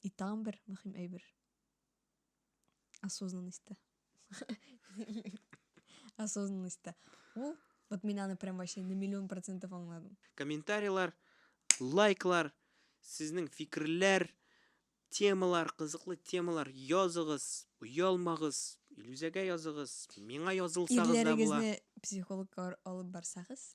И тагын бер мөһим әйбер. Осознанность та. Осознанность та. Ул, вот мин аны прям вообще на миллион процентов аңладым. Комментарийлар, лайклар, сезнең фикерләр, темалар, кызыклы темалар языгыз, оялмагыз, Илүзәгә языгыз, миңа язылсагыз да була. Ирләрегезне психологка алып барсагыз.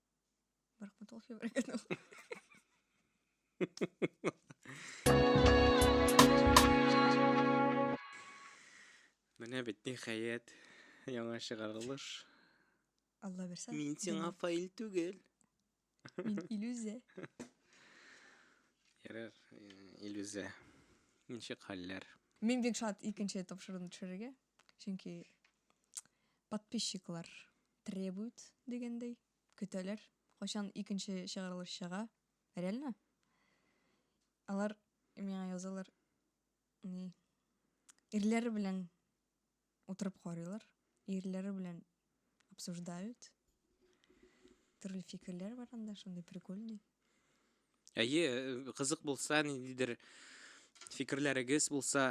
Рахмат ул Менә бит ниһаять яңа чыгарылыш. Алла бирсә. Мин сиңа фаил түгел. Мин иллюзия. Ярар, иллюзия. Ничек хәлләр? Мин бик шат икенче тапшыруны төшерергә. Чөнки подписчиклар Требуют, дигәндәй, көтәләр, кайчан икенче чыгарылыш чыга. Реально? Алар миңа язалар, ни, ирләре белән утырып карыйлар, ирләре белән обсуждают. Төрле фикерләр бар анда, шундый прикольный. Әйе, кызык булса, ниндидер фикерләрегез булса,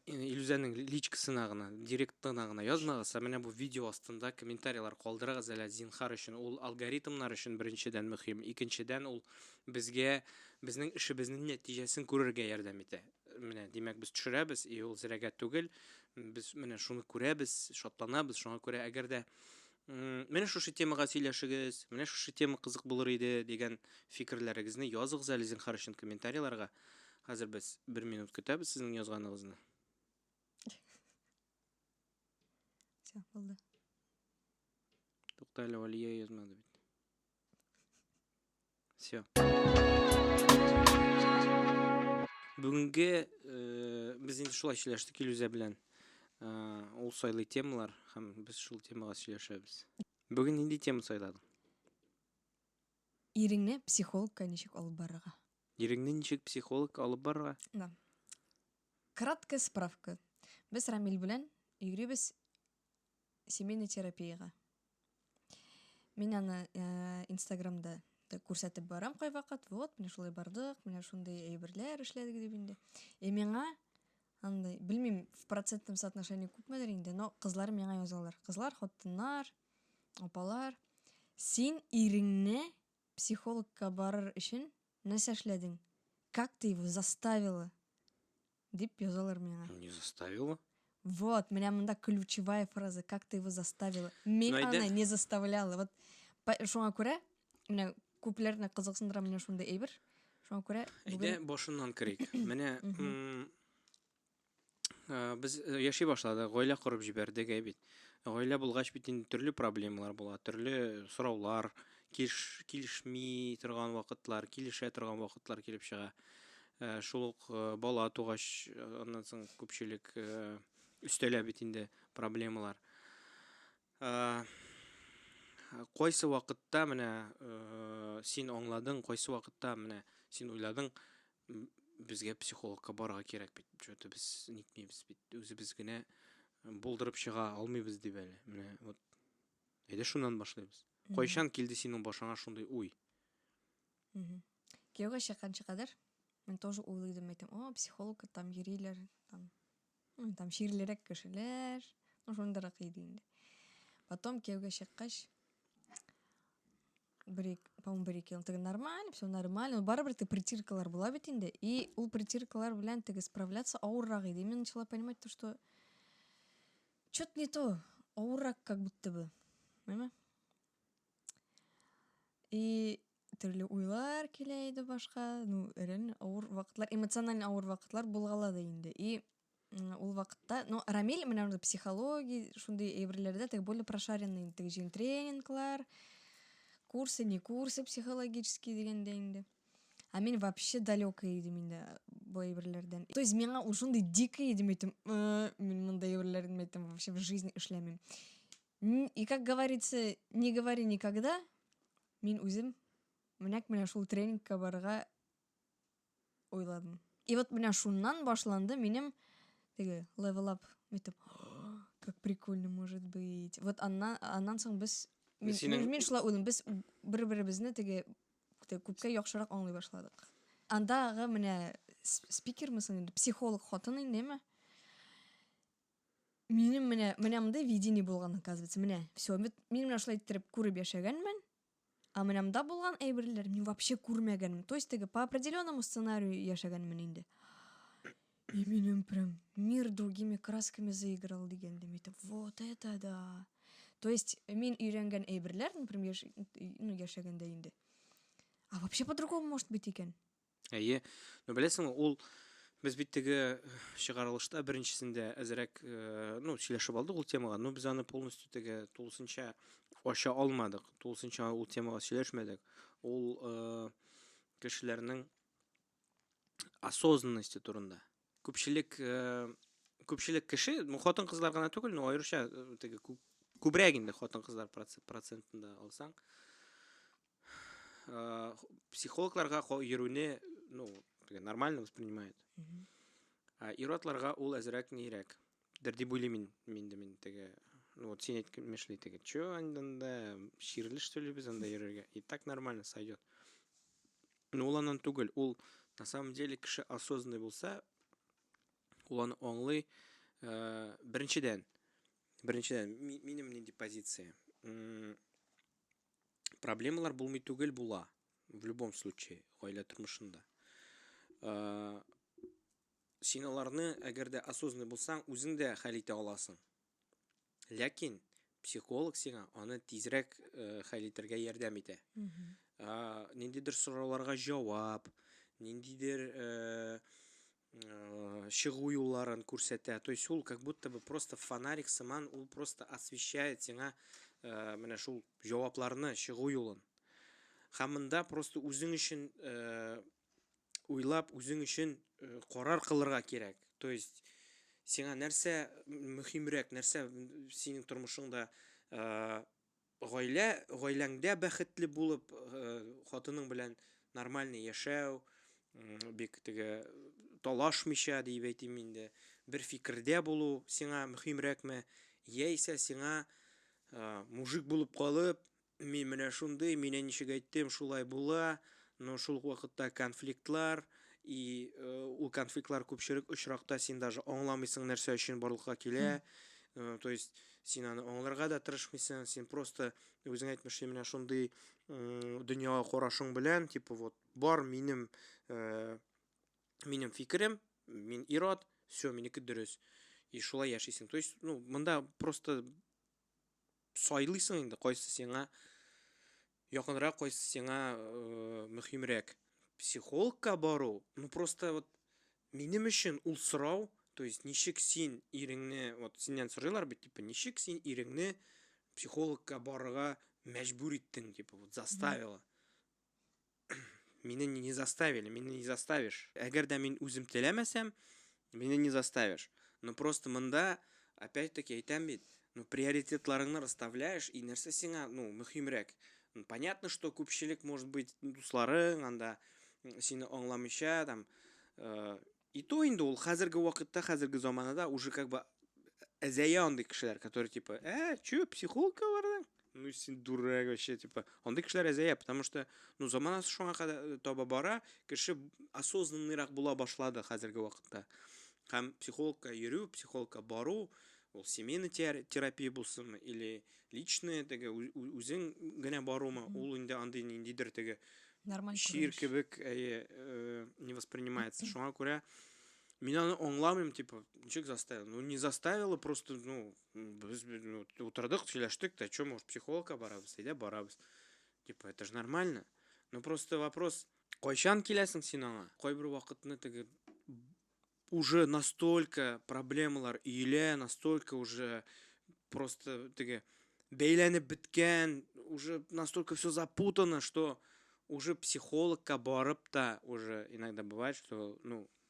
Илүзәнең личкасына гына, директына гына язмагыз, ә менә бу видео астында комментарийлар калдырыгыз әле зинхар өчен. Ул алгоритмнар өчен беренчедән мөһим, икенчедән ул безгә безнең эшебезнең нәтиҗәсен күрергә ярдәм итә. Менә, димәк, без төшерәбез, и ул зрәгә түгел. Без менә шуны күрәбез, шатланабыз. Шуңа күрә, әгәр дә Менә шушы темага сөйләшегез, менә шушы тема кызык булыр иде, дигән фикерләрегезне языгыз әле зинхар өчен комментарийларга. Хәзер без бер минут көтәбез сезнең язганыгызны. Все, булды. Тукта әле Алия язмады бит. Все. Бүгенге э, без инде шулай сөйләштек Илүзә белән. Э, ул сайлый темалар һәм без шул темага сөйләшәбез. Бүген нинди тема сайладың? Иреңне психологка ничек алып барырга? Иреңне ничек психолог алып барырга? Да. Краткая справка. Без Рамиль белән йөрибез семейный терапиягә. Мин аны э, Инстаграмда да күрсәтеп барам кайвакыт. Вот, менә шулай бардык, менә шундый әйберләр эшләдек дип инде. Э миңа андай, белмим, в процентном соотношении күпмедер инде, но кызлар миңа язалар. Кызлар, хатыннар, апалар, син иреңне психологка барыр өчен нәрсә эшләдең? Как ты его заставила? Дип язалар миңа. Не заставила? Вот, менә монда ключевая фраза. Как ты его заставила? Мин ну, аны не заставляла. Вот, шуңа күрә, менә күпләрне кызыксындыра менә шундый әйбер. Шуңа күрә Әйдә башыннан керик. Менә без э, яши башладык, гаилә корып җибәрдек ә бит. Гаилә булгач бит инде төрле проблемалар була, төрле сораулар, килеш, килешми торган вакытлар, килешә торган вакытлар килеп чыга. Ә, шул ук э, бала тугач, э, аннан соң күпчелек э, өстәлә бит инде проблемалар. Ә, кайсы вакытта менә э, син аңладың, кайсы вакытта менә син уйладың, безгә психологка барырга кирәк бит. Чөнки без нитмибез бит. Үзебез генә булдырып чыга алмыйбыз дип әле. Менә вот. Әйдә шуннан башлыйбыз. Кайчан килде синең башыңа шундый уй? кияүгә чыкканчы кадәр мен тоже уйлыйдым әйтем о психологка там йөриләр там там чирлерәк кешеләр ну шундыйрак иде инде потом кияүгә чыккач бер по моему бер ике ел теге нормально все нормально барыбер теге притиркалар була бит инде и ул притиркалар белән теге справляться авыррак иде мен начала понимать то что че то не то авыррак как будто бы понимаешь И төрле уйлар килә иде башка. Ну, реально авыр вакытлар, эмоциональ авыр вакытлар булгала да инде. И ул вакытта, ну, Рамиль менә анда психология, шундый әйберләрдә теге более прошаренный инде, теге җин тренинглар, курсы, не курсы психологические дигәндә инде. А мин вообще далекая идем инде бу әйберләрдән. То есть миңа ул шундый дикий идем әйтем, мин монда әйберләрен әйтем вообще в жизни эшләмим. И как говорится, не говори никогда, мин үзем менәк менә шул тренингка барырга уйладым. И вот менә шуннан башланды минем теге level up митеп. Как прикольно может быть. Вот аннан аннан соң без мин, Синең... мин шулай уйлыйм, без бер-беребезне теге күпкә яхшырак аңлый башладык. Андагы менә спикермысың инде, психолог хатын индеме? Минем менә менә монда видение булган, оказывается. Менә, все, мин менә шулай иттереп күреп яшәгәнмен. А менә монда булган әйберләр мин вообще күрмәгәнмен. То есть теге по определенному сценарию яшәгәнмен инде. И минем прям мир другими красками заиграл дигәндә митеп. Вот это да. То есть мин өйрәнгән әйберләр, например, ну, яшәгәндә инде. А вообще по-другому может быть икән. Әйе. Ну, беләсең, ул без бит теге э, чыгарылышта беренчесендә әзерәк, э, ну, сөйләшеп алдык ул темага, но без аны полностью теге тулысынча ача алмадык, тулысынча ул темага сөйләшмәдек. Ул э, кешеләрнең осознанности турында. Күпчелек күпчелек кеше, ну, хатын-кызлар гына түгел, но аеруча теге күбрәк инде хатын-кызлар процентында алсаң, Э, психологларга йөрүне ну нормально воспринимает ир-атларга ул әзрәк нирәк дер дип уйлыйм мин мин дә мин теге ну вот син әйткәнмешли теге че анда чирле что ли без анда йөрергә и так нормально сойдет но ул аннан түгел ул на самом деле кеше осознанный булса ул аны аңлый э, беренчедән беренчедән минем нинди позиция проблемалар булмый түгел була в любом случае гаилә тормышында э, син аларны әгәр дә осознанный булсаң үзең дә хәл итә аласың ләкин психолог сиңа аны тизрәк э, хәл итәргә ярдәм итә ниндидер сорауларга җавап ниндидер э, Э, чыгу юлларын күрсәтә то есть ул как будто бы просто фонарик сыман ул просто освещает сиңа э, менә шул җавапларны чыгу юлын һәм монда просто үзең өчен э, уйлап үзең өчен карар кылырга кирәк то есть сиңа нәрсә мөһимрәк нәрсә синең тормышыңда Гаилә, гаиләңдә бәхетле булып, хатының белән нормальный яшәү, бик теге талашмыйча дип әйтим инде, бер фикердә булу сиңа мөһимрәкме, яисә сиңа мужик булып калып, мин менә шундый, мин ничек әйттем, шулай була, но шул ук вакытта конфликтлар, и ул конфликтлар күпчелек очракта син даже аңламыйсың нәрсә өчен барлыкка килә, то есть Син аны аңларга да тырышмыйсың, син просто үзең әйтмешли менә шундый дөньяга карашың белән, типа вот бар минем э, минем фикерем, мин ирод, все, минеке дөрес. И шулай яшисең. То есть, ну, монда просто сайлыйсың инде, кайсы сиңа Якынрак кайсы сиңа мөһимрәк? Психологка бару, ну просто вот минем өчен ул сорау, то есть ничек син иреңне, вот синнән сорыйлар бит, типа, ничек син иреңне психологка барырга мәҗбүр иттең, типа, вот заставила. Мине не заставили, мине не заставишь. Әгәр дә мин үзем теләмәсәм, Мине не заставишь. Ну просто монда, опять таки әйтәм бит, ну приоритетларыңны расставляешь, и нәрсә сиңа, ну, мөһимрәк. Ну, понятно, что күпчелек может быть дусларың анда сине аңламыйча там. Э, и то инде ул хәзерге вакытта, хәзерге заманада уже как бы әзәя андый кешеләр, которые типа, э, чё, психологка бардың? ну син дурак вообще типа андый кешеләр әзәя потому что ну заманасы шуңа кадәр таба бара кеше осознанныйрак була башлады хәзерге вакытта һәм психологка йөрү психологка бару ул семейный терапия булсынмы или личный теге үзең генә барумы ул инде андый ниндидер теге нормаль чир кебек әйе э, не воспринимается шуңа күрә мин аны аңламыйм типа ничек заставил ну не заставила просто ну Без ну, утырдык, сөйләштек, та чё, может, психологка барабыз, әйдә барабыз. Типа, это же нормально. Ну просто вопрос, кайчан киләсең син аңа? Кайбер вакытны теге уже настолько проблемалар өелә, настолько уже просто теге бәйләнеп беткән, уже настолько все запутано, что уже психологка барып та уже иногда бывает, что, ну,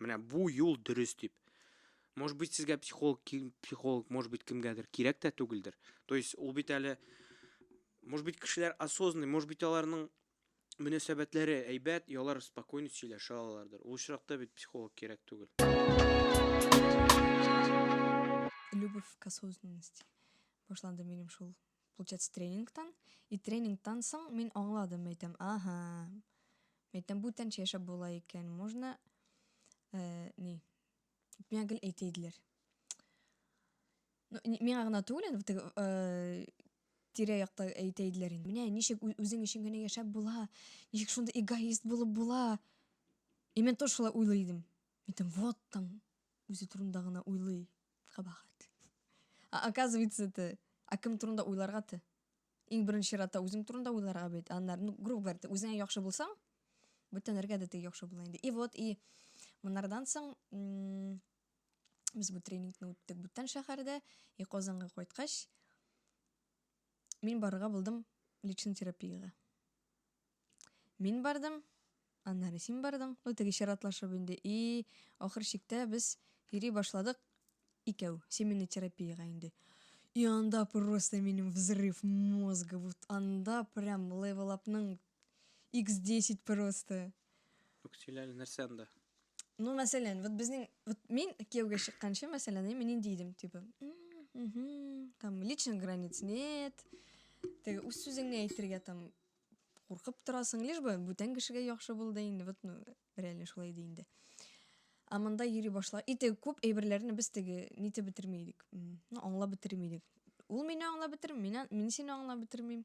Менә бу юл дөрес дип. Может быть, сезгә психолог, психолог, может быть, кемгәдер кирәк тә түгелдер. То есть, ул бит әле, может быть, кешеләр осознанный, может быть, аларның мөнәсәбәтләре әйбәт, ялар спокойно сөйләшә алалардыр. Ул очракта бит психолог кирәк түгел. Любовь к осознанности. Башланды минем шул Получается, тренингтан. И тренингтан соң мин аңладым, әйтәм, ага. Әйтәм, бүтәнчә яшәп була икән. Можно э, ни? Миңа гел әйтә иделәр. Ну, миңа гына түгел, инде теге э, тирә якта әйтә иделәр инде. Менә ничек үзең өчен генә яшәп була, ничек шунда эгоист булып була. И мен тоже шулай уйлый идем. Әйтәм, вот там, үзе турында гына уйлый. Кабахат. Ә оказывается ты, ә кем турында уйларга ты? Иң беренче чиратта үзең турында уйларга бит, аннары, ну, грубо говоря, ты үзеңә яхшы булсаң, бүтән нәргә дә ты яхшы була инде. И вот, и монардан соң без бу тренингны үттек бүтән шәһәрдә, и Казанга кайткач, мин барырга булдым личный терапиягә. Мин бардым, аннары син бардың. Ну, теге чиратлашып инде. И, ахыр чиктә без йөри башладык икәү, семейный терапиягә инде. И анда просто минем взрыв мозга. Вот анда прям левелапның X10 просто. Юк, сөйлә әле, нәрсә анда? Ну, мәсәлән, вот безнең, вот мин кияүгә чыкканчы, мәсәлән, мин нинди идем, типа, угу, там, личных границ нет, теге үз сүзеңне әйтергә там куркып торасың, лишь бы бүтән кешегә яхшы бул да инде, вот, ну, реально шулай иде инде. А монда йөри башла. И теге күп әйберләрне без теге нитә бетерми идек. Ну, аңлап бетерми идек. Ул мине аңлап бетерми, мин сине аңлап бетермим.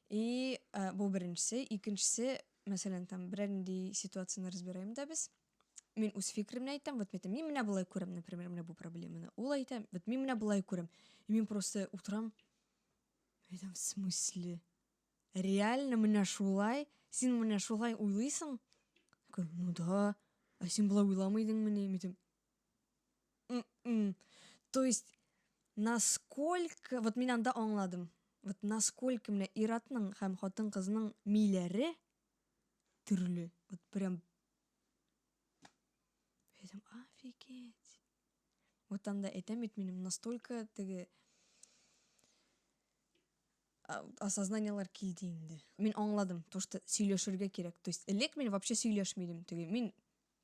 И бу беренчесе, икенчесе, мәсәлән, там берәр нинди ситуацияне разбираем да без. Мин үз фикеремне әйтәм, вот әйтәм, мин менә болай күрәм, например, менә бу проблеманы. Ул әйтә, вот мин менә болай күрәм. И мин просто утрам, әйтәм, в смысле? Реально менә шулай? Син менә шулай уйлыйсың? Ну да, а син болай уйламый идеңмени? Мин әйтәм, М-м. То есть, насколько, вот мин анда аңладым, вот насколько менә иратның һәм хатын кызның миләре төрле. Вот прям... Әйтәм, офигеть. Вот анда әйтәм бит минем, настолько теге осознаниялар килде инде. Мин аңладым, то, что сөйләшергә кирәк. То есть, элек мин вообще сөйләшмидем. Теге, мин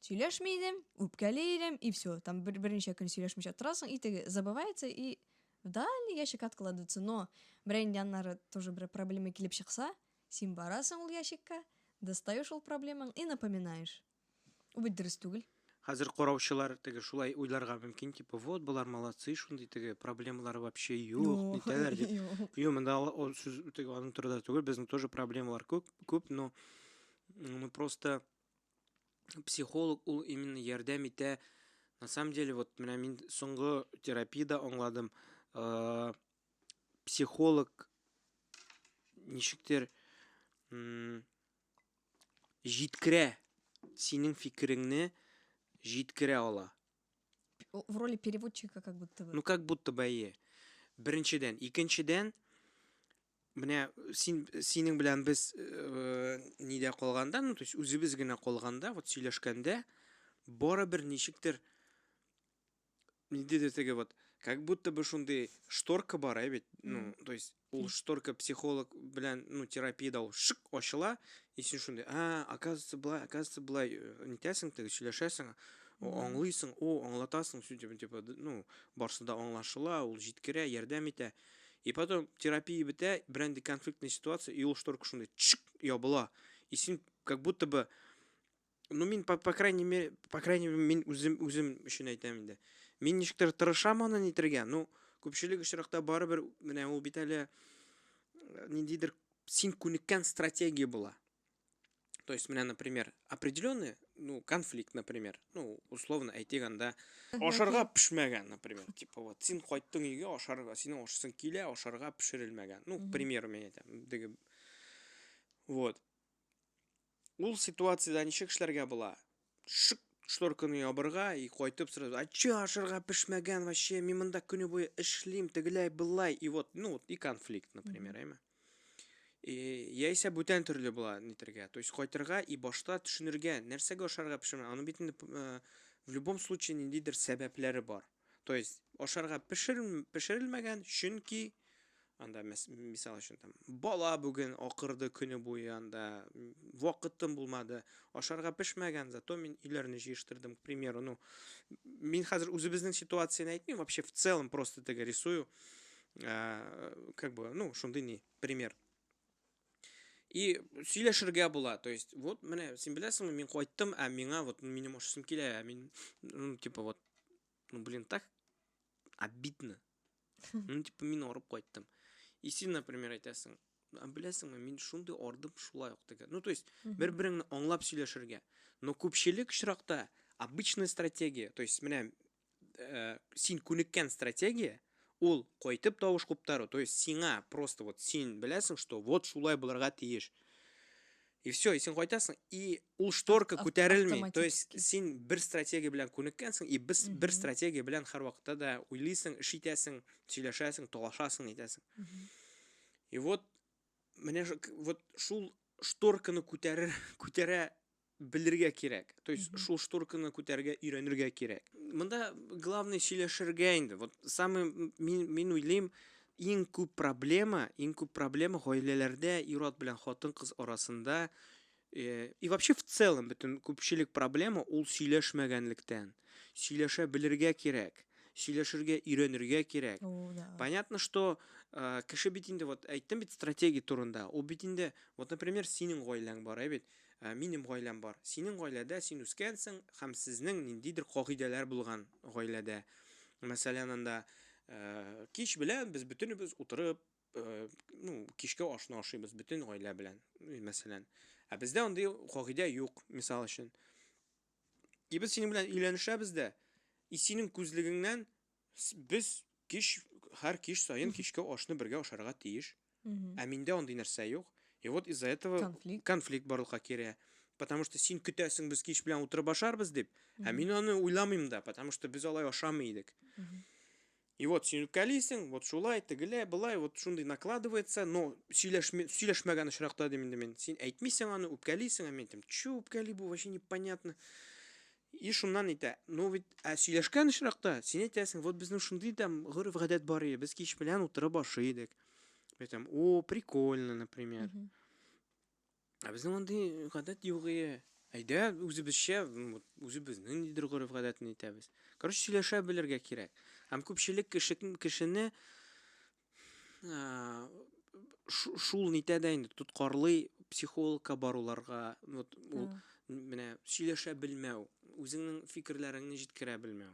Сөйләшми идем, үпкәли идем, и все. Там бер, берничә көн сөйләшмичә торасың, и теге забывается, и в дальний ящик откладывается. Но берәй инде аннары тоже бер проблема килеп чыкса, син барасың ул ящикка, достаешь ул проблемаң и напоминаешь. Ул бит дөрес түгел. Хәзер караучылар теге шулай уйларга мөмкин, типа, вот, болар молодцы, шундый теге проблемалары вообще юк, Юк, итәләр дип. юк. Юк, монда ала- ул сүз теге аның турында түгел, безнең тоже проблемалар күп, күп, но м, мы просто психолог ул именно ярдәм итә на самом деле вот менә мин соңгы терапиядә аңладым э, психолог ничектер җиткерә синең фикереңне җиткерә ала в роли переводчика как будто бы ну как будто бы әйе беренчедән икенчедән Менә син синең белән без э, нидә калганда, ну, то есть үзебез генә калганда, вот сөйләшкәндә барыбер ничектер ниндидер теге вот как будто бы шундый шторка бар, ә бит. Ну, то есть ул шторка психолог белән, ну, терапиядә ул шык ачыла, и син шундый, а, оказывается, былай, оказывается, былай э, нитәсең теге, сөйләшәсең, о, аңлыйсың, о, аңлатасың, сүйтеп, типа, д- ну, барсы да аңлашыла, ул җиткерә, ярдәм итә. И потом терапия бетә, берәнди конфликтный ситуация, и ул шторка шундай чик ябыла. И син как будто бы ну мин по, по крайней мере по крайней мере мин үзем үзем өчен әйтәм инде мин ничектер тырышам аны нитергә ну күпчелек очракта барыбер менә ул бит әле э, ниндидер син күнеккән стратегия була То есть, менә, например, определенный, ну, конфликт, например, ну, условно, әйтик анда, ашарга пешмәгән, например, типа, вот, син кайттың өйгә, ашарга, синең ашасың килә, ашарга пешерелмәгән. Ну, к примеру, мен әйтәм, диге. Вот. Ул ситуациядә ничек эшләргә була? шык шторканы ябырга и кайтып сразу а че ашырга пешмәгән вообще мин монда көне буе эшлим тегеләй былай и вот ну вот и конфликт например әйме и яисә бүтән төрле була нитергә то есть кайтырга и башта төшенергә нәрсәгә ашарга пешерә аны бит инде э, в любом случае ниндидер сәбәпләре бар То есть ашарга пешер, пешерелмәгән, чөнки анда мисал өчен там бала бүген акырды көне буе анда вакытым булмады ашарга пешмәгән зато мин өйләрне җыештырдым к примеру ну мин хәзер үзебезнең ситуацияне әйтмим вообще в целом просто теге рисую э, как бы ну шундый ни пример И сөйләшергә була. То есть, вот менә син беләсеңме, мин кайттым, ә миңа вот минем ашасым килә, ә мин ну типа вот ну блин, так обидно. Ну типа мин арып кайттым. И син, например, әйтәсең, а беләсеңме, мин шундый ардым шулай ук теге. Ну то есть, бер-береңне аңлап сөйләшергә. Но күпчелек очракта обычная стратегия, то есть менә э, син күнеккән стратегия ул кайтып тавыш куптару то есть сиңа просто вот син беләсең что вот шулай булырга тиеш и все и син кайтасың и ул шторка күтәрелми то есть син бер стратегия белән күнеккәнсең и без бер стратегия белән һәрвакытта да уйлыйсың эш итәсең сөйләшәсең талашасың итәсең и вот менә вот шул шторканы күтәрер күтәрә белергә кирәк. То есть mm -hmm. шул шторканы күтәрергә өйрәнергә кирәк. Монда главный сөйләшергә инде. Вот самый мин мин уйлыйм, иң күп проблема, иң күп проблема гаиләләрдә ир-ат белән хатын-кыз арасында э, и вообще в целом бөтен күпчелек проблема ул сөйләшмәгәнлектән. Сөйләшә белергә кирәк сөйләшергә өйрәнергә кирәк понятно что э, кеше бит инде вот әйттем бит стратегия турында ул бит инде вот например синең гаиләң бар ә бит Ә минем гаиләм бар. Синең гаиләдә син үскәнсең һәм сезнең ниндидер кагыйдәләр булган гаиләдә. Мәсәлән, анда кич белән без бөтенебез утырып, ну, кичке ашны ашыйбыз бөтен гаилә белән, мәсәлән. Ә бездә андый кагыйдә юк, мисал өчен. И без синең белән өйләнешәбез дә, и синең күзлегеңнән Без кич, һәр кич саен кичке ашны бергә ашарга тиеш. Ә миндә андый нәрсә юк. И вот из-за этого конфликт, конфликт барлыкка керә. Потому что син көтәсең, без кич белән утырып ашарбыз дип. Ә мин аны уйламыйм да, потому что без алай ашамый идек. И вот син үпкәлисең, вот шулай, тегеләй, былай, вот шундый накладывается, но сөйләшмә, сөйләшмәгән очракта дим инде мин. Син әйтмисең аны, үпкәлисең, ә мин әйтәм, чё үпкәли бу, вообще непонятно. И шуннан әйтә, ну ведь, ә сөйләшкән очракта, син әйтәсең, вот безнең шундый да гореф-гадәт бар иде, без кич белән утырып ашый идек. Бе там, о, прикольно, например. Mm -hmm. Ә безнең андый гадәт юк ие. Әйдә, үзебезчә, үзебезнең нидер гореф-гадәтне әйтәбез. Короче, сөйләшә белергә кирәк. Һәм күпчелек кеше кешене шул нитә дә инде тоткарлый психологка баруларга вот ул менә сөйләшә белмәү үзеңнең фикерләреңне җиткерә белмәү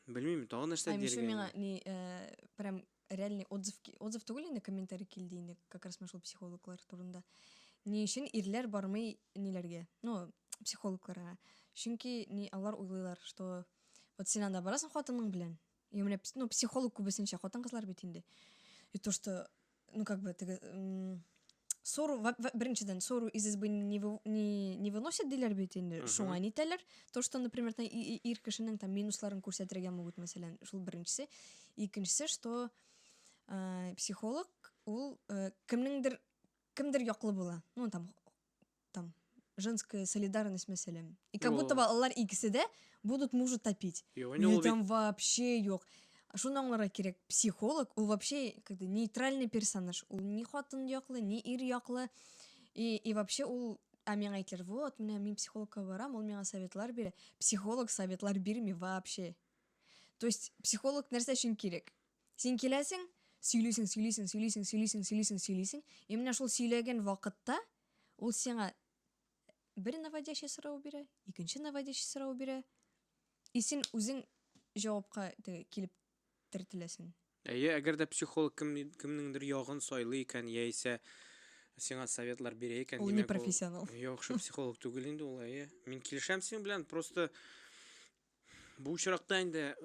белмим тагын нәрсә диргә еще миңа не э, прям реальный отзыв отзыв түгел инде комментарий килде инде как раз шул психологлар турында ни өчен ирләр бармый ниләргә ну психологларга чөнки ни алар уйлыйлар что вот син анда барасың хатының белән Я менә, ну, психолог күбесенчә хатын-кызлар бит инде. И то, что, ну, как бы, теге, сору, беренчедән, сору из избы не, не, не выносят диләр бит инде, шуңа нитәләр. То, что, например, там, ир кешенең там минусларын күрсәтергә могут, мәсәлән, шул беренчесе. Икенчесе, что э, психолог, ул э, кемнеңдер, кемдер яклы була. Ну, там, там женская солидарность мәсәлән. И как будто бы алар икесе дә будут мужу топить. Юнил там вообще юк. Шуны аңларга кирәк, психолог ул вообще как бы нейтральный персонаж. Ул ни хатын яклы, ни ир яклы. И, и вообще ул а миңа әйтер, вот, менә мин психологка барам, ул миңа советлар бирә. Психолог советлар бирми вообще. То есть психолог нәрсә өчен кирәк? Син киләсең, сөйлисең, сөйлисең, сөйлисең, сөйлисең, сөйлисең, сөйлисең. И менә шул сөйләгән вакытта Ул сиңа бер наводящий сорау бирә, икенче наводящий сорау бирә. И син үзең җавапка теге килеп тертеләсең. Әйе, әгәр дә психолог кем, кемнеңдер ягын сайлый икән, яисә сиңа советлар бирә икән, Ул не димәк, профессионал. яхшы психолог түгел инде ул, әйе. Мин килешәм синең белән, просто Бу очракта инде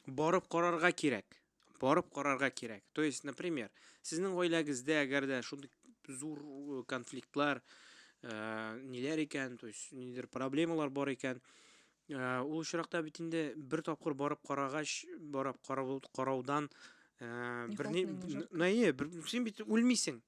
барып карарга кирәк. Барып карарга кирәк. То есть, например, сезнең гаиләгездә әгәр дә шундый зур э, конфликтлар, э, ниләр икән, то есть, нидер проблемалар бар икән, э, ул очракта бит инде бер тапкыр барып карагач, барып карау, караудан э, берни, наи, бер, син бит үлмисең.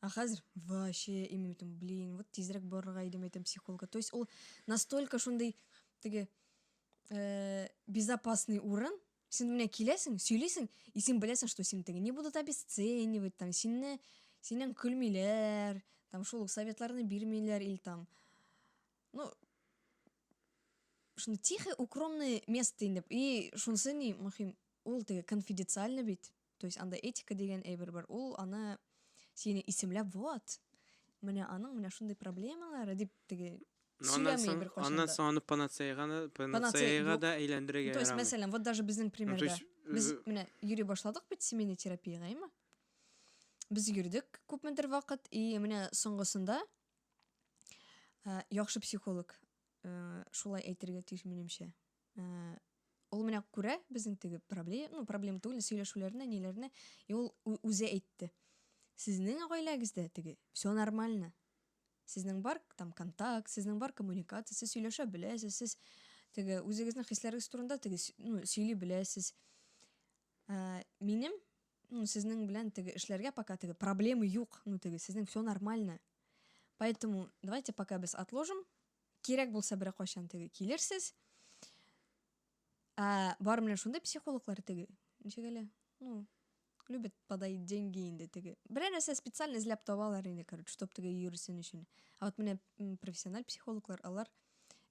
А хәзер вообще именно там, блин, вот тизрәк барырга идем әйтәм психолога. То есть ул настолько шундый теге э, безопасный урын, син менә киләсең, сөйлисең, и син беләсең, что син теге не будут обесценивать, там синне синен көлмиләр, там шул советларны бирмиләр или там ну шуны тихо укромный место инде и шунысы ни мөһим ул теге конфиденциально бит То есть анда этика дигән әйбер бар. Ул аны сине исемләп, вот, менә аның менә шундый проблемалары дип теге ну, сөйләми бер кайчан Аннан соң аны панацеяга панацеяга да әйләндерергә То есть, мәсәлән, вот даже безнең примерда. Э, Без менә йөри башладык бит семейный терапиягә, әйме? Без йөрдек күпмедер вакыт, и менә соңгысында э, яхшы психолог э, шулай әйтергә тиеш минемчә. Э, ул менә күрә безнең теге проблем, ну, проблем түгел, сөйләшүләрне, ниләрне, и ул үзе әйтте. Сезнең гаиләгездә теге, все нормально. Сезнең бар там контакт, сезнең бар коммуникация, сез сөйләшә беләсез, сез теге үзегезнең хисләрегез турында теге, ну, сөйли беләсез. Ә, минем, ну, сезнең белән теге эшләргә пока теге проблемы юк, ну, теге, сезнең все нормально. Поэтому давайте пока без отложим, Кирәк булса беркайчан теге килерсез. Ә бар менә шундый психологлар теге. Ничек әле? Ну, любят подоить деньги инде теге. Берәр нәрсә специально эзләп табалар инде, короче, чтоб теге йөрсен өчен. Ә вот менә профессиональ психологлар, алар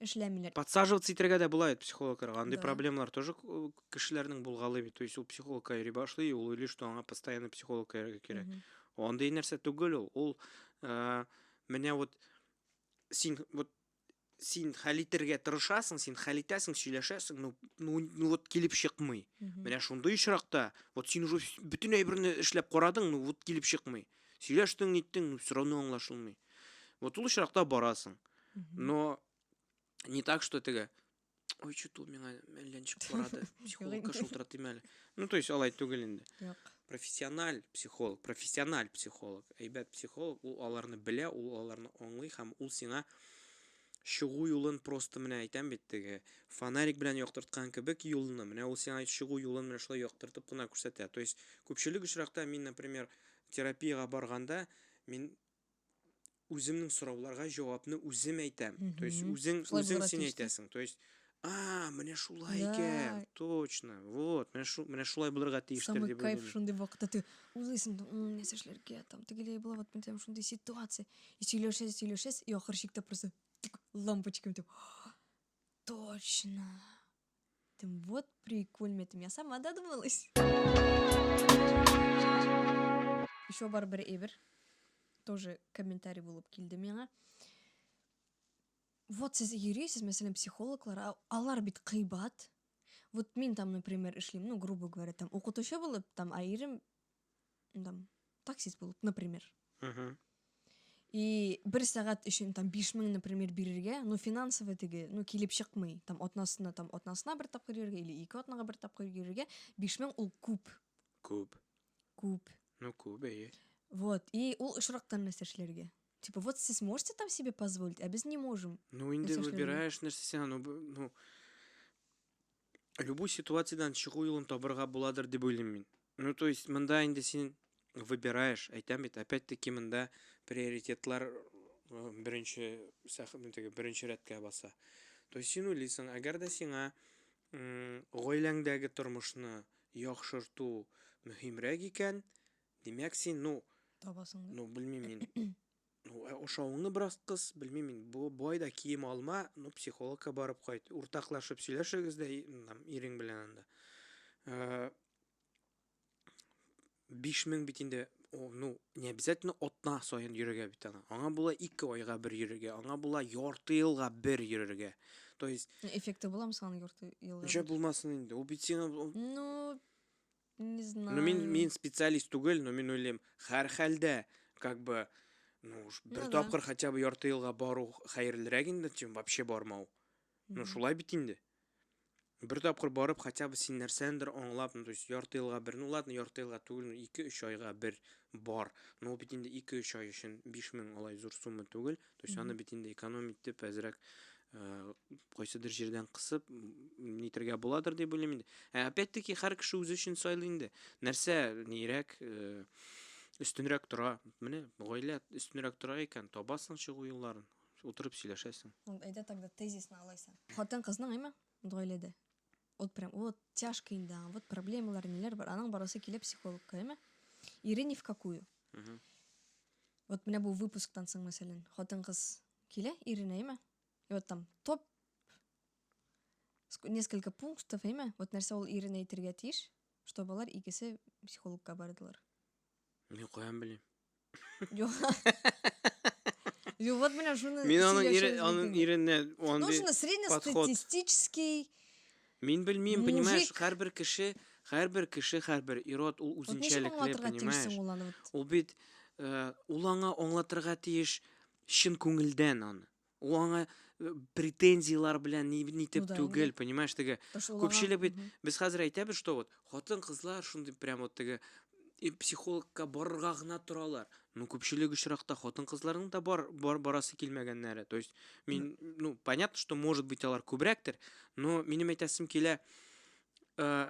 эшләмиләр. Подсаживаться итәргә дә була бит психологларга. Андый да. проблемалар тоже э, кешеләрнең булгалый бит. То есть ул психологка йөри башлый, ул уйлый, что аңа постоянно психолог йөрергә кирәк. Андый нәрсә түгел ул. Ул э, менә вот син вот син хәл итәргә тырышасың, син хәл итәсең, сөйләшәсең, ну, ну, ну вот килеп чыкмый. Менә шундый очракта, вот син уже бөтен әйберне эшләп карадың, ну вот килеп чыкмый. Сөйләштең, ниттең, ну все равно аңлашылмый. Вот ул очракта барасың. Но не так, что теге Ой, чуту миңа әллә ничек карады. Психологка шылтыра тимә әле. Ну, то есть алай түгел инде. Юк. Профессиональ психолог, профессиональ психолог. Әйбәт психолог, ул аларны белә, ул аларны аңлый һәм ул сиңа чыгу юлын просто менә әйтәм бит теге фонарик белән яктырткан кебек юлны менә ул сиңа чыгу юлын менә шулай яктыртып кына күрсәтә то есть күпчелек очракта мин например терапиягә барганда мин үземнең сорауларга җавапны үзем әйтәм. То есть үзең үзең син әйтәсең. То есть А, менә шулай икән. Точно. Вот, менә шу менә шулай булырга тиештер Самый дип кайф шундый вакытта ты уйлыйсың, «М, нәрсә эшләргә, там тегеләй була, вот мен там шундый ситуация. И сөйләшәсез, сөйләшәсез, и ахыр чиктә просто тик, лампочкам дип. Точно. Ты вот прикольно, ты меня сама додумалась. Еще бар бер эбер. Тоже комментарий булып килде миңа. Вот сез йөрисез, мәсәлән, психологлар, а алар бит кыйбат. Вот мин там, например, эшлим, ну, грубо говоря, там укытучы булып, там айрым там, таксист булып, например. Угу. И бер сәгать өчен там 5000, например, бирергә, ну финансовый теге, ну килеп чыкмый. Там атнасына, там атнасына бер тапкыр йөрергә или ике атнага бер тапкыр йөрергә 5000 ул күп. Күп. Күп. Ну күп, әйе. Вот, и ул очрактан нәрсә эшләргә? Типа, вот сез можете там себе позволить, а без не можем. Ну инде выбираешь нәрсә син, ну, ну любой ситуациядән чыгу юлын табырга буладыр дип уйлыйм мин ну то есть монда инде син выбираешь әйтәм бит опять таки монда приоритетлар беренче теге беренче рәткә баса то есть син уйлыйсың әгәр дә сиңа гаиләңдәге тормышны яхшырту мөһимрәк икән димәк син ну табасың ну белмим мин Ну, ә ашавыңны бераз кыс, белмим мин, бу бай да кием алма, ну, психологка барып кайт, уртаклашып сөйләшегез дә там ирең белән анда. 5000 бит инде, ну, не обязательно атна саен йөрергә бит ана. Аңа була 2 айга бер йөрергә, аңа була ярты елга бер йөрергә. То есть эффекты буламы соң ярты елга? Ничә булмасын инде? Ул бит сиңа Ну, Не знаю. Ну, мин, мин специалист түгел, но мин уйлыйм, хәр хәлдә, как бы, ну, бер ну, тапкыр да. хотя бы ярты елга бару хәерлерәк инде, чем вообще бармау. Ну, шулай бит инде. Бер тапкыр барып, хотя бы син нәрсәндер аңлап, ну, то есть ярты елга бер, ну, ладно, ярты елга түгел, 2-3 айга бер бар. Ну, бит инде 2-3 ай өчен 5000 алай зур сумма түгел. То есть аны бит инде экономить итеп, әзрәк э, кайсыдыр җирдән кысып нитергә буладыр дип уйлыйм инде. Ә опять-таки һәр кеше үзе өчен сайлый инде. Нәрсә нирәк э, өстенрәк тора. Менә гаилә өстенрәк тора икән, табасың чыгу юлларын. Утырып сөйләшәсең. Әйдә тогда тезисны алайса. Хатын кызның, әйме? Гаиләдә. вот прям вот тяжко инде аңа вот проблемалар ниләр бар аның барасы килә психологка әйме ире ни в какую вот менә бу выпусктан соң мәсәлән хатын кыз килә иренә әйме и вот там топ несколько пунктов әйме вот нәрсә ул иренә әйтергә тиеш чтобы алар икесе психологка бардылар мин каян белим Юк. Юк, вот менә шуны Мин аның ире, аның иренә Ну, шуны среднестатистический Мин белмим, понимаешь, һәрбер кеше, һәрбер кеше, һәрбер ирод ул үзенчәлекле, понимаешь? Ул бит э, ул аңа аңлатырга тиеш чын күңелдән аны. ул аңа э, претензиялар белән ни нитеп ну, түгел понимаешь теге күпчелек бит без хәзер әйтәбез что вот хатын кызлар шундый прям вот теге психологка барырга гына торалар ну күпчелек очракта хатын кызларның да бар, бар барасы килмәгәннәре то есть мин ну понятно что может быть алар күбрәктер но минем әйтәсем килә э,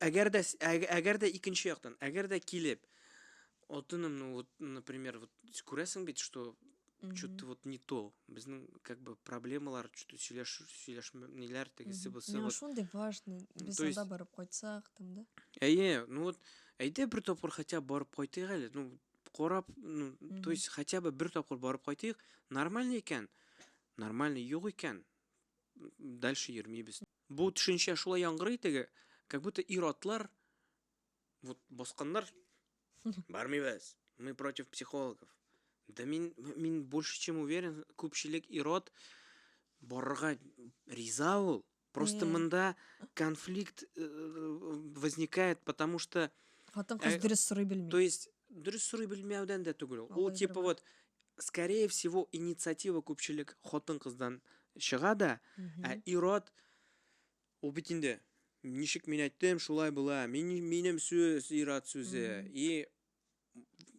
Әгәр дә әгәр дә икенче яктан, әгәр дә килеп алтыным, ну вот, например, вот күрәсең бит, что что-то вот не то. Безнең как бы проблемалар, что-то сөйләш сөйләшмәләр тегесе бусы. Ну шундый важный. Без анда барып кайтсак там, да? Әйе, ну вот әйдә бер тапкыр хотя бы барып кайтыйк әле. Ну кораб, ну, то есть хотя бы бер тапкыр барып кайтыйк, нормально икән, нормально юк икән, дальше йөрмибез. Бу төшенчә шулай яңгырый теге, как будто ир-атлар вот басканнар. Бармыйбыз. Мы против психологов. Да мин, мин больше чем уверен, күпчелек ирод барырга риза ул. Просто мында конфликт э, возникает, потому что... Хатын кыз э, дөрес сорый белми. То есть, дөрес сорый белмәүдән дә түгел. Ул типа вот скорее всего инициатива күпчелек хатын кыздан чыга да ә ирод ул бит инде ничек мин әйттем шулай була мин минем сүз ирод сүзе и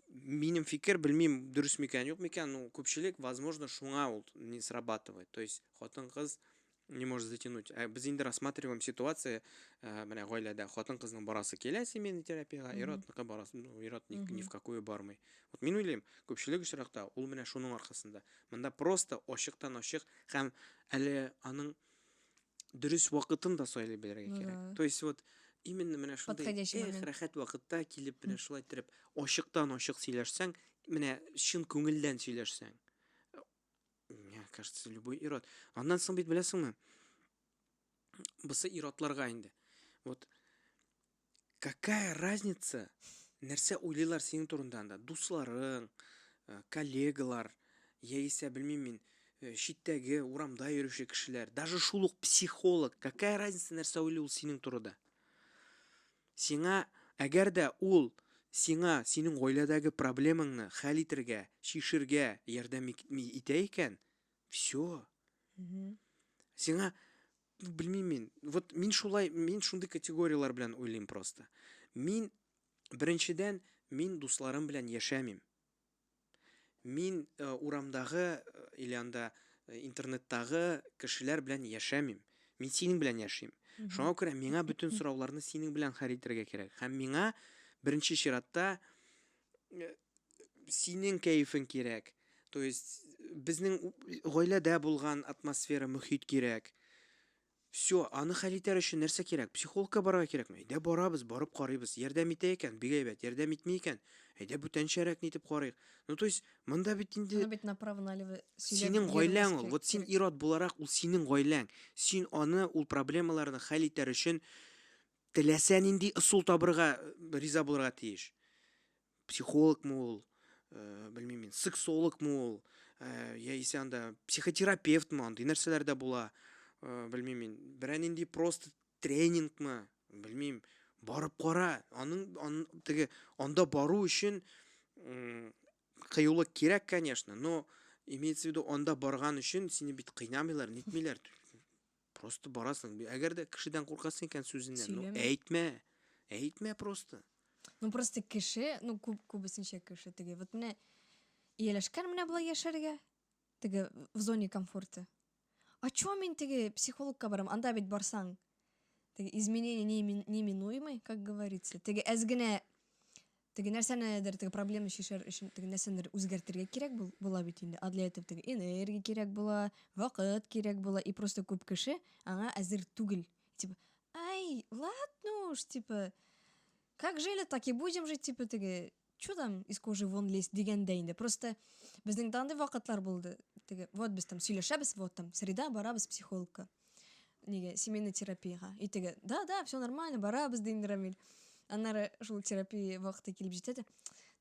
минем фикер белмим дөрес микән юк микән ну күпчелек возможно шуңа ул не срабатывает то есть хатын кыз не может затянуть. Ә без инде рассматриваем ситуация, э, менә гаиләдә хатын-кызның барасы килә семейный терапиягә, ир-атныкы барасы, ну, ир-ат ни, ни в какую бармый. Вот мин уйлыйм, күпчелек очракта ул менә шуның аркасында. Монда просто ачыктан ачык һәм әле аның дөрес вакытын да сайлый белергә ну кирәк. То есть вот именно менә шундай эх, рәхәт вакытта килеп менә шулай итеп ачыктан ачык сөйләшсәң, менә чын күңелдән сөйләшсәң, Миңа кажется, любой ирод. Аннан соң бит беләсеңме? Бусы иродларга инде. Вот какая разница, нәрсә уйлыйлар синең турында анда? Дусларың, э, коллегалар, яисә белмим мин, э, читтәге урамда йөрүче кешеләр, даже шул ук психолог. Какая разница, нәрсә уйлый ул синең турыда? Сиңа, әгәр дә ул сиңа синең гаиләдәге проблемаңны хәл итергә, чишергә ярдәм итә икән, всё. Сиңа, белмим мин, вот мин шулай, мин шундый категорияләр белән уйлыйм просто. Мин, беренчедән, мин дусларым белән яшәмим. Мин э, урамдагы э, или анда э, интернеттагы кешеләр белән яшәмим. Мин синең белән яшим. Шуңа күрә миңа бөтен сорауларны синең белән хәл итәргә кирәк. Һәм миңа беренче чиратта э, синең кәефең кирәк. То есть безнең гаиләдә булган атмосфера, мөхит кирәк. Все, аны хәл итәр өчен нәрсә кирәк? Психологка барырга кирәкме? Әйдә барабыз, барып карыйбыз. Ярдәм итә икән, бик әйбәт, ярдәм итми икән, әйдә бүтәнчәрәк нитеп карыйк. Ну то есть, монда бит инде. Аны бит направо налево сөйләп Синең йөрмәскә гаиләң ул, вот син кирәк. ир-ат буларак, ул синең гаиләң. Син аны, ул проблемаларны хәл итәр өчен теләсә нинди ысул табырга риза булырга тиеш. психологмы ул ә, белмим мин сексологмы ул ә, яисә анда психотерапевтмы андый нәрсәләр дә була ә, белмим мин берәр нинди просто тренингмы белмим барып кара аның ан, теге анда бару өчен кыюлык кирәк конечно но имеется в виду анда барган өчен сине бит кыйнамыйлар нитмиләр Просто барасың. Әгәр дә кешедән куркасың икән сүзеннән, ну Сөйләмә. әйтмә. Әйтмә просто. Ну просто кеше, ну күп күбесенчә кеше теге. Вот менә ияләшкән менә болай яшәргә. Теге в зоне комфорта. А чё мин теге психологка барам? Анда бит барсаң. Теге изменение неминуемый, как говорится. Теге әз генә Теге нәрсәнедер, теге проблема чишәр өчен теге нәрсәнедер үзгәртергә кирәк бул, була бит инде. А для этого теге энергия кирәк була, вакыт кирәк була. И просто күп кеше аңа әзер түгел. Типа, ай, ладно уж, типа, как жили, так и будем жить, типа, теге, чё там из кожи вон лезть дигәндә инде. Просто безнең дә андый вакытлар булды. Теге, вот без там сөйләшәбез, вот там среда барабыз психологка. неге семейный терапияга өйтеге да да все нормально барабыз деймін рамиль аннары шул терапия вакыты килеп җитә дә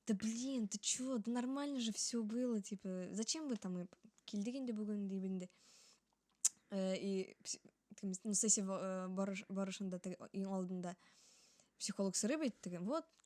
да блин ты че да нормально же все было типа зачем вы там килдек инде бүген дип инде э, и ну сессия э, барышында иң алдында психолог сорый бит теге вот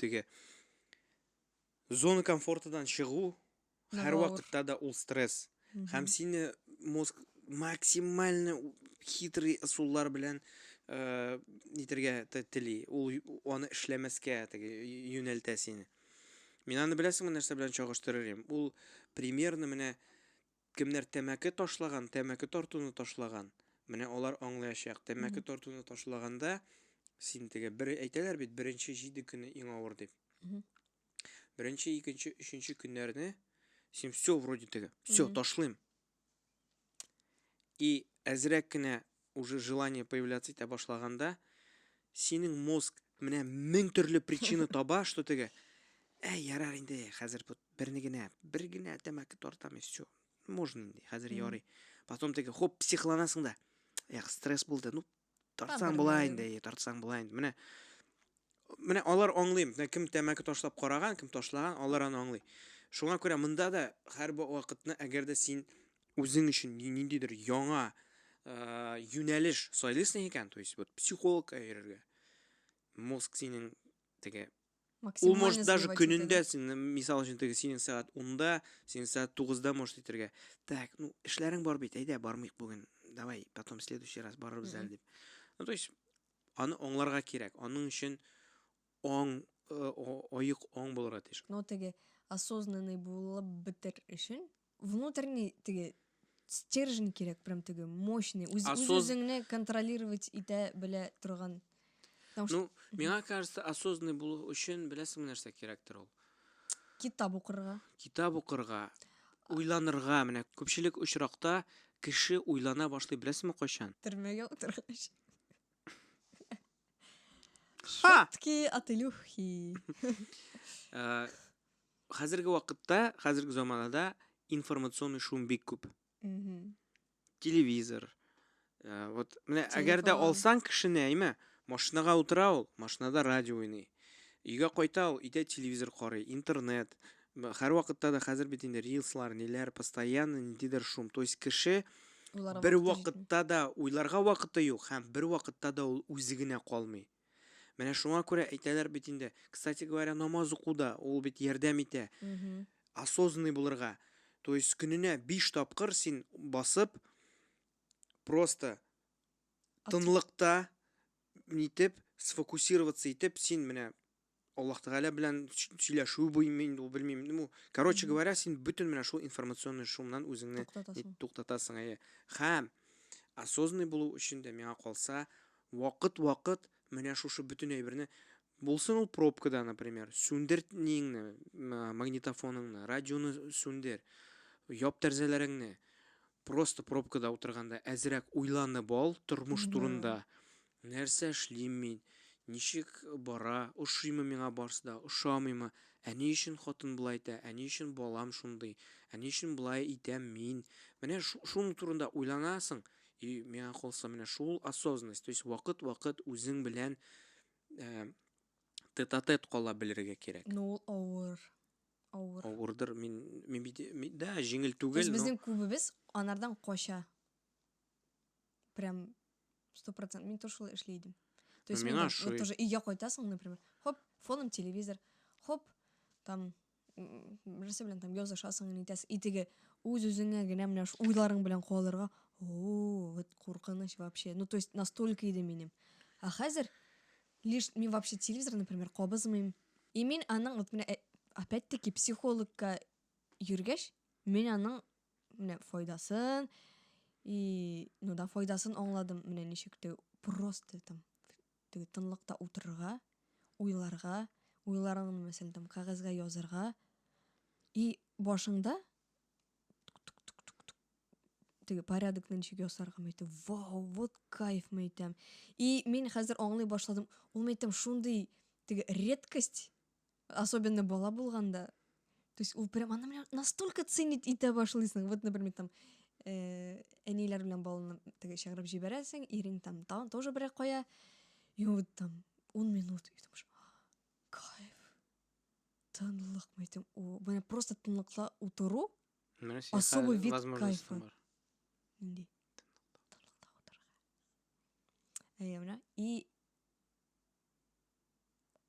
теге зона комфортадан чыгу һәрвакытта да ул стресс һәм сине мозг максимально хитрый ысуллар белән э, нитергә тели ул аны эшләмәскә теге юнәлтә сине мин аны беләсеңме нәрсә белән чагыштырыр идем ул примерно менә Кемнәр тәмәке ташлаган, тәмәке тартуны ташлаган, менә алар аңлаячак. Тәмәке тартуны ташлаганда, син теге, бер, әйтәләр бит, беренче җиде көне иң авыр дип. Беренче, икенче, өченче көннәрне син все вроде теге, все, ташлыйм. И әзрәк кенә уже желание появляться итә башлаганда, синең мозг менә мең төрле причина таба, что теге, ә, ярар инде, хәзер бу берне генә, бер генә тәмәке тартам, и все, можно инде, хәзер ярый. Потом теге, хоп, психланасың да, эх, стресс булды, ну, тартсаң була инде, тартсаң була инде, менә, менә алар аңлыйм, менә кем тәмәке ташлап караган, кем ташлаган, алар аны аңлый. Шуңа күрә монда да һәр вакытны, әгәр дә син үзең өчен ниндидер яңа юнәлеш сайлыйсың икән, то есть вот психологка йөрергә. Мозг синең теге Ул может даже көнендә син мисал өчен теге синең сәгать 10-да, синең сәгать 9-да может итергә. Так, ну эшләрең бар бит, әйдә бармыйк бүген. Давай, потом следующий раз барырбыз әле дип. Ну то есть аны аңларга кирәк. Аның өчен аң э, оек аң булырга тиеш. Но теге осознанный булып бетер өчен внутренний теге стержень кирәк прям теге мощный үз, үз үзеңне контролировать итә белә торган потому что ну миңа кажется осознанный булу өчен беләсең нәрсә кирәктер ул китап укырга китап укырга уйланырга менә күпчелек очракта кеше уйлана башлый беләсеңме кайчан төрмәгә утыргач Шутки ателюхи. Э, хәзерге вакытта, хәзерге заманада информационный шум бик күп. Телевизор. Э, вот, менә әгәр дә алсаң кешене, әйме, машинага утыра ул, машинада радио уйный. Өйгә кайта ул, өйдә телевизор карый, интернет, Һәрвакытта да хәзер бит инде рилслар, ниләр, постоянно ниндидер шум. То есть кеше Уйларга бер вакыты җитми. вакытта да уйларга вакыты юк һәм бер вакытта да ул үзе генә калмый. Менә шуңа күрә әйтәләр бит инде. Кстати говоря, намаз уку да ул бит ярдәм итә. Осознанный булырга. То есть көненә 5 тапкыр син басып просто тынлыкта нитеп сфокусироваться итеп син менә Аллаһ Тәгалә белән сөйләшү буймы инде ул белмим. Ну, короче говоря, син бөтен менә шул информационный шумнан үзеңне туктатасың. Әйе. Хәм осознанный булу өчен дә миңа калса, вакыт-вакыт менә шушы бөтен әйберне булсын ул пробкада, например, сүндер ниеңне, магнитофоныңны, радионы сүндер, яп тәрзәләреңне. Просто пробкада утырганда әзрәк уйланып ал тормыш турында. Нәрсә эшлим мин? Ничек бара? Ошыймы миңа барсы да, ошамыймы? Ә ни өчен хатын болай итә? Ә ни өчен балам шундый? Ә ни өчен болай итәм мин? Менә шуның турында уйланасың. И миңа калса, менә шул осознанность, то есть вакыт-вакыт үзең белән тет-а-тет кала белергә кирәк. Ну, ул авыр. Авыр. Авырдыр. Мин, мин бит, да, җиңел түгел. То есть безнең күбебез анардан кача. Прям Сто процент. Мин тоже шулай эшли идем. То есть, мина шулай. Вот тоже өйгә кайтасың, например, хоп, фоном телевизор, хоп, там, нәрсә белән там язышасың, нитәсең, и теге үз-үзеңә генә менә шу уйларың белән калырга, о, вот куркыныч вообще. Ну, то есть, настолько иде минем. А хәзер, лишь, мин вообще телевизор, например, кабызмыйм. И мин аның, вот менә, э, опять-таки, психологка йөргәч, мин аның менә файдасын и ну да файдасын аңладым менә ничек теге просто там теге тынлыкта утырырга уйларга уйларыңны мәсәлән там кәгазьгә язырга и башыңда теге порядокны ничек ясарга мәйтәм вау вот кайф мәйтәм и мин хәзер аңлый башладым ул мәйтәм шундый теге редкость Особенно бала булганда. То есть ул прям аны менә настолько ценить итә башлыйсың. Вот, например, там э, әниләр белән баланы теге чыгарып җибәрәсең, ирең там та, тоже берәр кая. И вот там 10 минут и думаешь, кайф. Тынлык, мен әйтәм, о, менә просто тынлыкта утыру. Менә син особый вид кайфа. Нинди? Тынлыкта утырырга. Әйе, менә и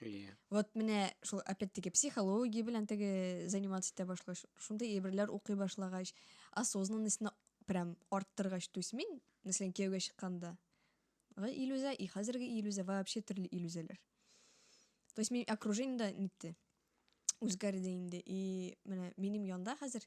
Иә. Вот менә шул опять-таки психология белән теге заниматься итә башлагач, шундый әйберләр укый башлагач, осознанностьны прям арттыргач, то есть мин, мәсәлән, кияүгә чыкканда, илүзә и хәзерге илүзә вообще төрле илүзәләр. То есть мин окружение да нитте. Үзгәрде инде. И менә минем янда хәзер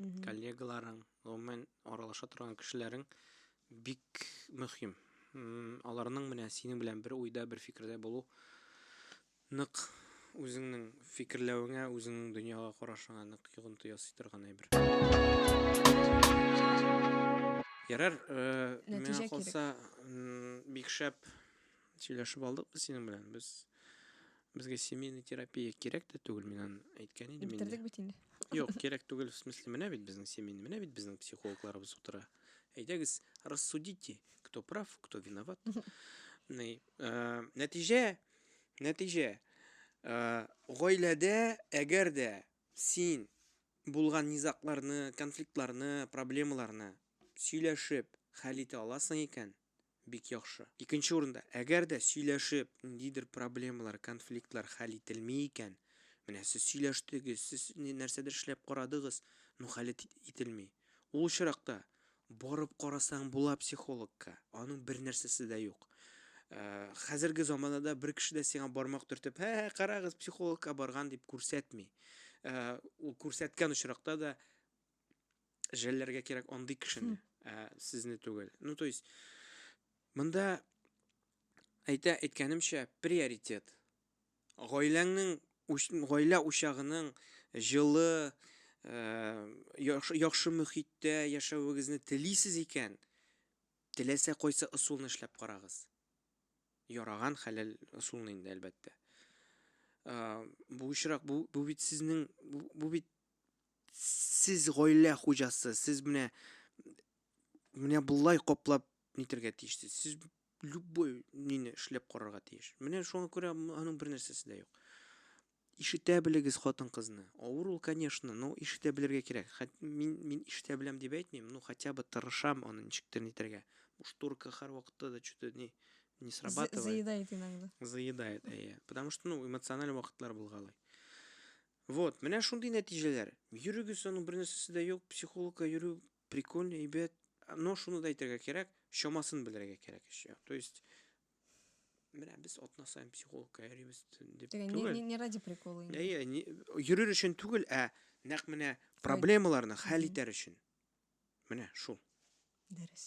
Мгм. коллегаларың, гомумән аралаша торган кешеләрең бик мөһим. М, Аларның менә синең белән бер уйда, бер фикердә булу нык үзеңнең фикерләвеңә, үзеңнең дөньяга карашыңа нык йогынты ясый торган әйбер. Ярар, э, Нәтиҗә миңа кирәк. калса, м, бик шәп Сөйләшеп алдык без синең белән. Без безгә семейный терапия кирәк тә түгел, мин аны әйткән идем инде. Бетердек бит инде. Юк, кирәк түгел, в смысле, менә бит безнең семейный, менә бит безнең психологларыбыз утыра. Әйдәгез, рассудите, кто прав, кто виноват. Ни, э, нәтиҗә, нәтиҗә. Э, гаиләдә, әгәр дә син булган низакларны, конфликтларны, проблемаларны сөйләшеп хәл итә аласың икән, бик яхшы. Икенче урында, әгәр дә сөйләшеп, ниндидер проблемалар, конфликтлар хәл ителми икән, менә сез сөйләштегез, сез нәрсәдер эшләп карадыгыз, но хәл ителми. Ул очракта барып карасаң була психологка, аның бер нәрсәсе дә юк. Э, хәзерге заманада бер кеше дә сиңа бармак төртеп, һә, һә, карагыз, психологка барган дип күрсәтми. Э, ул күрсәткән очракта да Жәлләргә кирәк андый кешене, ә сезне түгел. Ну, то есть, монда әйтә әйткәнемчә приоритет. Гаиләңнең, гаилә учагының җылы, яхшы, яхшы мөхиттә яшәвегезне телисез икән, теләсә кайсы ысулны эшләп карагыз. Яраган хәләл ысулны инде, әлбәттә. Бу очрак, бу, бу бит сезнең, бу, бу бит Сез гаилә хуҗасы, сез менә менә болай каплап нитергә тиешсез. Сез любой нине эшләп карарга тиеш. Менә шуңа күрә аның бер нәрсәсе дә юк. Ишетә белегез хатын-кызны. Авыр ул, конечно, но ишетә белергә кирәк. Хәт, мин мин ишетә беләм дип әйтмим, ну хотя бы тырышам аны ничектер нитергә. Бу шторка һәр вакытта да что-то не не срабатывает. Заедает иногда. Заедает, әйе. Потому что, ну, эмоциональ вакытлар булгалый. Вот, менә шундый нәтиҗәләр. Йөрегез, аның бернәрсәсе дә юк. Психологка йөрү прикольно, әйбәт. Но шуны да әйтергә кирәк, чамасын белергә кирәк еще. То есть менә без атна саен психологка йөрибез дип түгел. Не, не ради прикола. Әйе, йөрер өчен түгел, ә нәкъ менә проблемаларны хәл итәр өчен. Менә шул. Дөрес.